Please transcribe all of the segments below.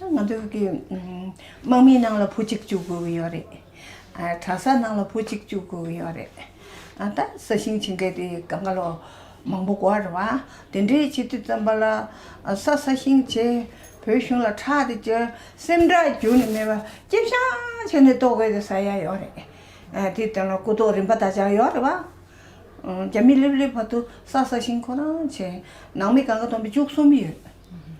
ང་ཚོའི་གི་དམག་མིའི་ནང་ལ་བུ་གཅིག་བཅུག་དགོས་ཀྱི་ཡོད་རེད། གྲྭ་ས་ནང་ལ་བུ་གཅིག་བཅུག་དགོས་ཀྱི་ཡོད་རེད། ད་ས་ཞིང་ཆེན་གྱི་དེ་ག་ག་ལོ་མང་པོ་བགོ་རེད་བ། དེ་འདྲའི་བྱེད་དུས་ཙམ་པ་ལ་ས་ས་ཞིང་བྱེ་བོད་གཞུང་ལ་ཁྲག་དེ་གཅོད་སེམས་ཁྲག་རྒྱུ་ནི་མེད་པ་ལྕེ་བཤང་བྱས་ནས་ལྟོ་གོས་དེ་ཟ་ཡ་ཡོད་རེད། དེ་ལྟ་ན་སྐུ་ཐོག་རིམ་པ་ད་ཆ་ཡོད་རེད་བ། རྒྱ་མི་ལེབ་ལེབ་བར་དུ་ས་ས་ཞིང་ཁོ་རང་བྱེ། ནང་མི་ག་ག་སྟོང་པའི་བཅུ་གསུམ་ཡོད།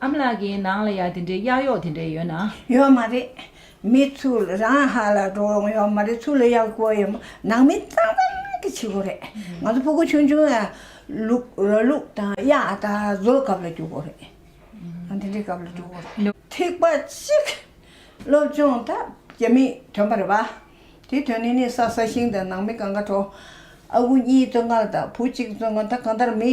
ཨ་མ་ལགས་ཀྱིས་ནང་ལ་ཡག་དེ་འདྲའི་གཡག་གཡོག་དེ་འདྲའི་ཡོད་ན། ཡོད་མ་རེད། མི་ཚུལ་རང་ཧ་ལ་འགྲོ་ཡོང་ཡོད་མ་རེད་ཚུལ་ལ་ཡག་པོ་ཡོད་མ་ནང་མི་གཙང་གཙང་གི་བྱེད་དགོས་རེད། ང་ཚོ་ཕོ་རྒོད་ཆུང་ཆུང་ཡ་ལུག་ར་ལུག་དང་གཡག་དང་བཟོ་སྐབས་ལ་རྒྱུག་དགོས་རེད། དེ་འདྲའི་སྐབས་ལ་རྒྱུག་དགོས་རེད། ཐིག་པ་གཅིག། སློབ་སྦྱོང་ད་རྒྱ་མི་དོན་པ་རེད་པ། དེའི་དོན་ནི་ནི་ས་ས་ཞིང་དང་ནང་མི་གང་ག་འགྲོ། ཨ་ཁུ་གཉིས་བཙོན་ཁང་ལ་ད་བུ་གཅིག་བཙོན་ཁང་ད་གང་ལྟར་མི།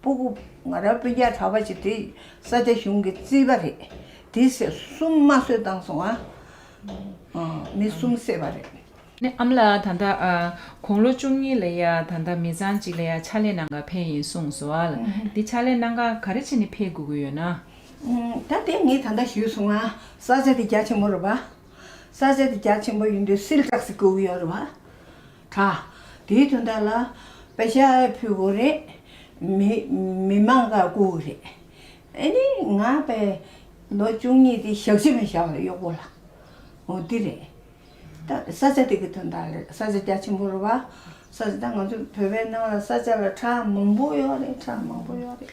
པུ་གུ། ང་རང་སྤུན་ཆེད་གྲྭ་བ་ཞིག་དེ་ས་སྐྱ་གཞུང་གི་རྩིས་པ་རེད། དེ་སྲས་གསུམ་མ་གསོད་བཏང་སོང་ཨ། མི་གསུམ་བསད་པ་རེད། ནས་ཨམ་ལ་ད་ལྟ་དགུང་ལོ་བཅུ་གཉིས་ལས་ཡ་ད་ལྟ་མི་ཚང་གཅིག་ལས་ཡ་ཕྱག་ལས་གནང་ག་ཕན་ཡིན་གསུངས་སོ་ཨ་ལ་འདི་ཕྱག་ལས་གནང་ག་ག་རེ་བྱེད་ནས་ཕེ་དགོས་གི་ཡོད་ན། ད་དེ་ངས་ད་ལྟ་ཞུས་སོང་ཨ་ས་སྐྱ་དེ་རྒྱ་ཆེན་པོ་རེད་བ། ས་སྐྱ་དེ་རྒྱ་ཆེན་པོ་ཡིན་དུས་སིལ་བྲག་སིག་དགོས་གི་ཡོད་རེད་བ། དྲག། དེའི་དོན་དག་ལ། པེ་ཤ་ཨའི་ཕུ་བོ་རེད། མི། མི་མང་ག་སྐུ་རེད། ཨེ་ནི། ང་པེ། ལོ་བཅུ་གཉིས་ཏེ་ཞག་བཞི་མི་ཤ་བ་གཡོག་པོ་ལ། འོ་དེ་རེད། ད་ས་ཆ་དེ་གི་དོན་དག་ལ་ས་ཆ་རྒྱ་ཆེན་པོ་རུ་བ། ས་ཆ་ད་ང་ཚོ་བོད་པའི་ནང་ལ་ས་ཆ་ལ་གྲགས་མང་པོ་ཡོག་རེད་གྲགས་མང་པོ་ཡོག་རེད།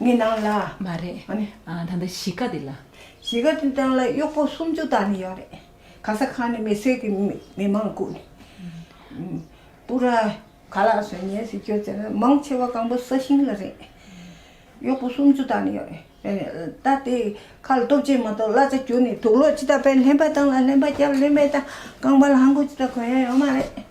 ངའི་ནང་ལ། མ་རེད། ཨ་ནི། ཨ་ད་ལྟ་གཞིས་ཀ་འདི་ལ། གཞིས་ཀ་འདི་དང་ལ་གཡོག་པོ་སུམ་ཅུ་དག་ནི་ཡོད་རེད། ག་ས་ག་ནས་མི་སེར་གྱི་མི་མང་བཀུག་ནས། པུ་ར། ག་ལ་སོན་ཉེ་ཟིག་ཁྱོད་ཚེ་ན་མང་ཆེ་བ་གང་པོ་ས་ཞིང་ལ་རེད། གཡོག་པོ་སུམ་ཅུ་དག་ནི་ཡོད་རེད། ད་དེ་ཁ་ལ་སྟོབས་ཆེན་མ་གཏོགས་གླ་ཚ་གྱུར་ནས་དུག་ལོག་ཅི་ལྟ་བས་ལྷན་པ་དང་ལ་ལྷན་པ་སྐྱབས་ལྷན་པའི་དང་རྐང་པ་ལ་ཧམ་གོད་ཅི་ལྟ་གོན་ཡ་ཡོད་མ་རེད།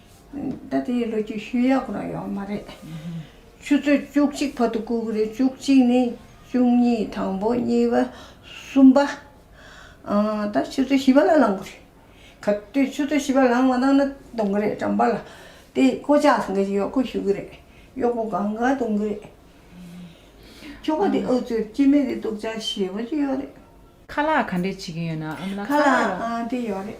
ད་ལྟ་ཡི་ལོ་རྒྱུས་ཤུལ་ཡག་པོ་རག་ཡོང་མ་རེད། ཆུ་ཚོད་བཅུ་གཅིག་བར་དུ་བཀུག་རེད་བཅུ་གཅིག་ནས་བཅུ་གཉིས་དང་པོ་གཉིས་པ་གསུམ་པ། ད་ཆུ་ཚོད་བཞི་བ་ལ་ལངས་གི་རེད། ག་དུས་ཆུ་ཚོད་བཞི་བ་ལངས་མ་གཏང་ན་གཏོང་གི་རེད་གྲམ་པ་ལ་དེ་བསྐོ་བྱ་ཟེར་གི་གཡོག་པོ་ཞུ་གི་རེད་གཡོག་པོ་གང་ག་གཏོང་གི་རེད། ཁྱོ་ག་དེ་ཨུ་ཚུར་སྐྱིད་མེད་དེ་སྡུག་ཅག་བྱེད་པོ་ཅིག་ཡོད་རེད། ཁ་ལག་ག་འདྲས་བྱེད་ཀྱིན་ཡོད་ན་འམ་ལ་ཁ་ལག་ར། ཁ་ལག་དེ་ཡོད་རེད།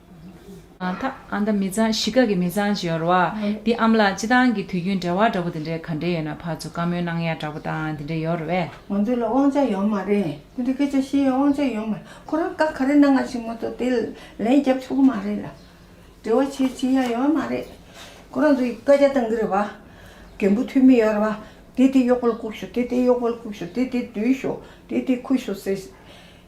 ཐ། ཨ་མདའ་མི་གཙང་གཞིས་ཀ་གི་མི་གཙང་ཅེས་ཡོང་ར་བ། འདི་ཨ་མ་ལགས་སྤྱི་སྟངས་ཀྱི་དུས་རྒྱུན་འབྲེལ་བ་འདྲ་པོ་དེ་འདྲའི་ག་འདྲེ་ཡོད་ན་ཕར་ཚུར་བཀའ་མོལ་གནང་ཡ་འདྲ་པོ་དང་དེ་འདྲེ་ཡོད་ར་བས། ང་ཚོ་ལ་དབང་ཆ་ཡོད་མ་རེད་དེ་འདྲེ་སྐད་ཆ་བཤད་ཡ་དབང་ཆ་ཡོད་མ་རེད་ཁོ་རང་བཀའ་ག་རེ་གནང་ཡ་ཞིག་མ་ཏོག་དེ་ལན་རྒྱབ་ཆོག་གི་མ་རེད་ལ། འབྲེལ་བ་བྱེད་བྱེད་ཡ་ཡོད་མ་རེད། ཁོ་རང་ཚོ་ཡི་བཀའ་རྒྱ་གཏང་གི་རེད་བ། རྒན་པོ་འཐུས་མི་ཡོད་ར་བ། དེ་དེ་གཡོག་པོ་ལ་བཀུག་ཤོག་དེ་དེ་གཡོག་པོ་ལ་བཀུག་ཤོག་དེ་དེ་འདུལ་ཤོག་དེ་དེ་འཁུར་ཤོག་ཟེར།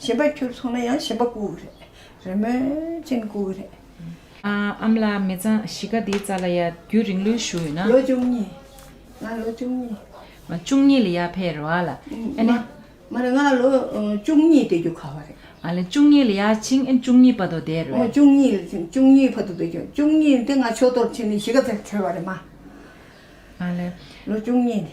ཞེན་པ་ཁྱོད་ཚོ་ལ་ཡང་ཞེན་པ་སྐུ་རེད་རེད་མོད་ཅན་སྐུ་རེད། ཨམ་ལ་མི་གཙང་གཞིས་ཀ་འདིའི་རྩ་ལ་ཡ་རྒྱུད་རིང་ལུས་ཞུ་ཡོད་ན། ལོ་བཅུ་གཉིས། ང་ལོ་བཅུ་གཉིས། མ་བཅུ་གཉིས་ལ་ཡ་ཕེ་རེད་བ་ལ། ཨེ་ནི། མ་རེད་ང་ལོ་བཅུ་གཉིས་དེ་རྒྱུ་ཁ་བ་རེད། ཨ་ལེ་བཅུ་གཉིས་ལ་ཡ་ཕྱིན་ཨེ་བཅུ་གཉིས་ཕ་དོ་དེ་རེད་བ། བཅུ་གཉིས་ལ་ཕྱིན་བཅུ་གཉིས་ཕ་དོ་དེ་རྒྱུ་བཅུ་གཉིས་དེ་ང་ཆོས་གཏོར་ཕྱིན་ནས་གཞིས་ཀ་དེར་ཁྲེལ་བ་རེད་མ། ཨ་ལེ། ལོ་བཅུ་གཉིས་ནི།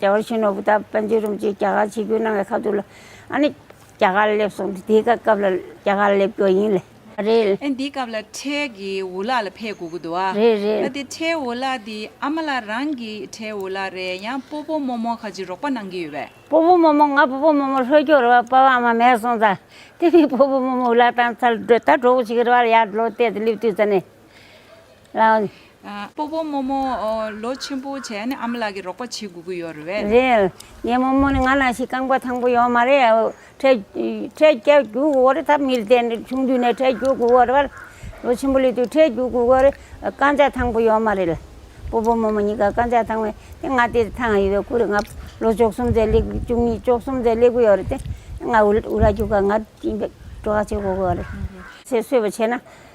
རྒྱ་གར་གཞོན་ནུ་བུ་དག་བན་ཆོས་རིམ་གྱིས་རྒྱ་གར་ཆིག་བརྒྱུད་གནང་བའི་ཁ་ཐུག་ལ། ཨ་ནི། རྒྱ་གར་སླེབས་སོང་དེ་དེའི་སྐབས་ལ་རྒྱ་གར་སླེབས་རྒྱུ་ཡིན། རེད། ཨ་ནི་དེའི་སྐབས་ལ་ཁྲའི་གི་འུ་ལག་ལ་ཕེབས་དགོས་ཀྱི་འདུག་ཨ། རེད་རེད། ཨ་དེ་ཁྲའི་འུ་ལག་དེ་ཨ་མ་ལགས་རང་གི་ཁྲའི་འུ་ལག་རེད་ཡང་སྤོ་སྤོ་མོ་མོ་ཁ་ཅིག་རོགས་པ་གནང་གི་ཡོད་པས། སྤོ་སྤོ་མོ་མོ་ང་སྤོ་སྤོ་མོ་མོ་ལྷོད་སྐྱོ་རེད་བ་སྤ་བ་ཨ་མ་མེད་སོང་ཙང་དེ་མིན་སྤོ་སྤོ་མོ་མོ་འུ་ལག་དང་ཚར་འདྲོད་ད་གྲོགས་པོ་ཞིག་རེད་བ་ལ་ཡར་ལོ་གཏད་དེ་སླེབས་དུས་ཙ་ནས། ལགས། སྤོ་བོ་རྨོ་མོ། ལོ་ཆེན་པོ་བྱས་ནས་ཨ་མ་ལགས་ཀྱི་རོགས་པ་བྱེད་དགོས་ཀྱི་ཡོད་རེད། རེད། ངའི་རྨོ་མོ་ནི་ང་ལ་ཞིག་རྐང་པ་ཐང་པོ་ཡོད་མ་རེད། འཕྲལ་རྒྱག་རྒྱུ་དགོས་རེད་ད་མི་ལྟས་ནས་ཆུང་དུས་ནས་འཕྲལ་རྒྱུག་དགོས་རེད། ལོ་ཆེན་པོ་ལས་དུས་འཕྲལ་རྒྱུག་དགོས་རེད། རྐང་ཆག་ཐང་པོ་ཡོད་མ་རེད། སྤོ་བོ་རྨོ་མོ་གཉིས་ཀ་རྐང་ཆག་ཐང་བས་ཏེ་ང་དེ་ཐང་ཡོད་པའི་ཁུལ་རེད་ང་ལོ་བཅུ་གསུམ་ཚེ་སླེབས་བཅུ་གཉིས་བཅུ་གསུམ་ཚེ་སླེབས་ཀྱི་ཡོད་རེད་ཏེ། ང་འུ་ར་རྒྱུག་ཁར་ང་སྤྲོ་བ་བྱེད་དགོས་རེད། ཚེ་བསོད་པ་བྱས་ན།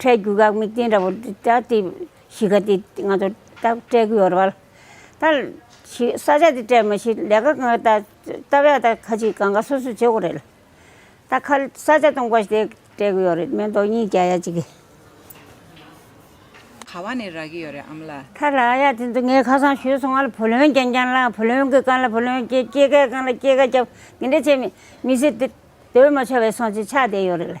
འཕྲལ་རྒྱུ་འགག་མེད་རྐྱེན་འདྲ་བོ་འདི་ལྟ་སྟེ། གཞིས་ཀ་འདི་ང་ཚོ་ལྟ་སྤྲད་ཀྱི་ཡོད་རེད། ད་ས་ཆ་འདི་སྤྲད་མ་ཤེས་ལས་ཀ་ང་ལྟ་སྟབས་ཡག་ད་ཁ་ཅིག་གང་ག་སོ་སོས་བྱེད་དགོས་རེད། ད་ཁ་ས་ཆ་སྟོང་པ་ཞིག་སྤྲད་ཀྱི་ཡོད་རེད་མེ་མདོ་གཉིས་བརྒྱ་ཡ་གཅིག། ག་བ་ནས་རག་གི་ཡོད་རེད་ཨམ་ལ། ད་ལ་ཡ་དེ་ཚོ་ངས་ཁ་སང་ཞུས་སོང་ང་ལ་བུ་ལོན་རྒྱན་རྒྱན་བླངས་བུ་ལོན་གི་གང་ལ་བུ་ལོན་སྐྱེད་སྐྱེད་ཀའི་གང་ལ་སྐྱེད་ཀ་བརྒྱབ་དེ་འདྲ་བྱས་མི་སྲིད་དེ་དོན་མ་ཆོད་པའི་སོང་ཆེད་ཆགས་བསྡད་ཡོད་རེད།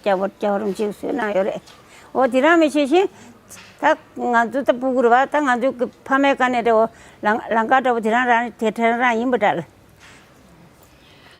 སྐྱ་བོར་སྐྱ་བོར་འཇིགས་སུ་གནང་ཡོད་རེད། འོ་དེ་རང་མི་ཤེས་ཤིང། ད་ང་ཚོ་ད་སྤུ་གུར་བ་ད་ང་ཚོའི་ཕ་མའི་བཀའ་ནས་དེ་འོ་ལང་ཀ་འདྲ་བོ་དེ་རང་རང་དེ་ཐེངས་རང་ཡིན་པ་འདྲ།